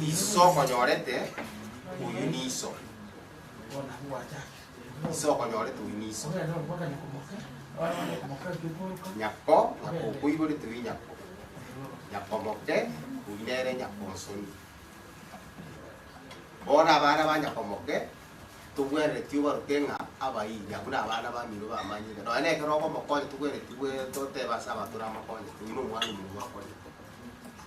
Iso okonyorete, oyio niso. Iso okonyorete, oyio niso. Nyako, nyako okoiborete, oyio nyako. Nyako omoke, oyio nere nyako omosoni. Bono abana ba nyako omoke, togwenereti obaroke ng'a abairi, abwo nabana bamino bamanyire. Nonya na ekero okomokonya togwenereti gwe totebe ase abanto namakonya, oyio nomwana omonto akorire.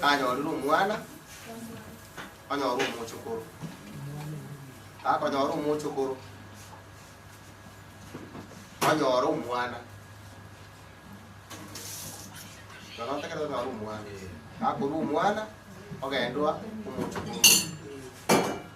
Nanyorire omwana, onyore omochokoro. Akonyora omochokoro, onyore omwana. Nonya otakerete onyore omwana. Akorua omwana, ogendwa omochokoro.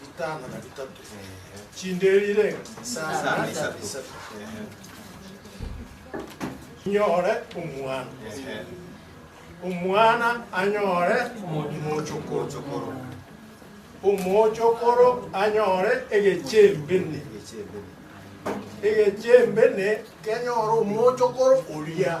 Ritano na ritatu. Chinderire isano na isatu. Nyore omwana. Omwana anyore omochokoro. Omochokoro anyore egechembene. Egechembene kenyore omochokoro oria.